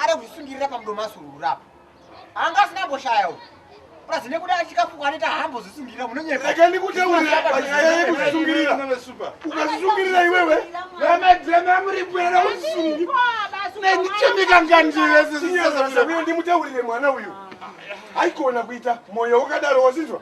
Ari kuzvisungirira pamudomo asurura apa. Anga asina mboshaya uyu. Plus nekuda achikafuka anoita hambo zvisungirira munonyepa. Rega ndikutaurira panyaya yekuzvisungirira. Ukazvisungirira iwewe. Vana dzema muri kwera usungi. Nendichemika ngandire sisi. Ndimutaurire mwana uyu. Haikona kuita moyo wakadaro wasinzwa.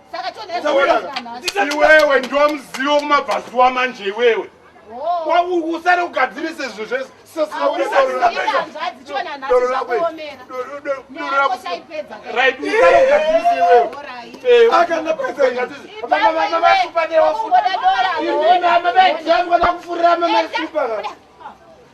iwewe ndiwo muzivo kumabvazuwa manje iwewe oh. usare kugadzirise zvinhu zvese akanapaeaaaeakufuriramaasupa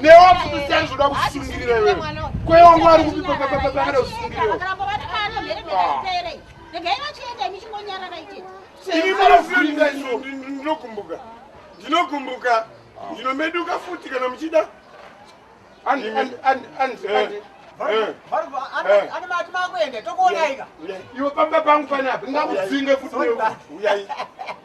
newa futi siyani zvoda kusungirira iwe kwewa mwari kupi pakada kusungirira ini munofunga izvo ndinogumbuka ndinogumbuka ndinomeduka futi kana muchida iwe pamba pangu panapa ndakudzinge futi uyai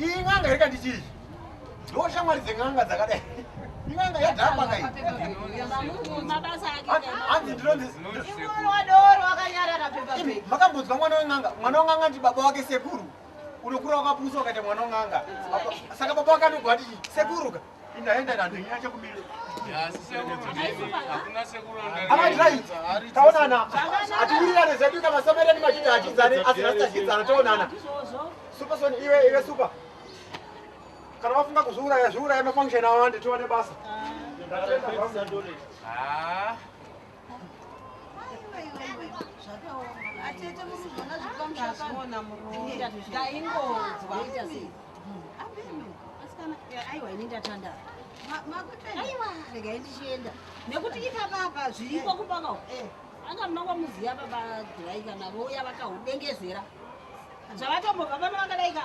iyi n'anga iri kanditi iyi ndo shamwari dzen'anga dzakadai in'anga yadhakwa kai hanzi ndinonzimakambodzwa mwana wen'anga mwana wen'anga ndi baba wake sekuru unokura wakapusa ukaita mwana wen'anga saka baba wake anogwa ati sekuruka taonana atiwirirane zvedu kana somereni machiti achidzane asi rasitachidzana taonana superson iwe iwe super kana wafunga kuzviuraya zviuraya mafunction awande tiwane basa ah. nekuti ipapapa zviriko kupaka eh. anga munongo muziva baba dhiraika navo uya vakahudengezera zvavatombobva pano vakadaika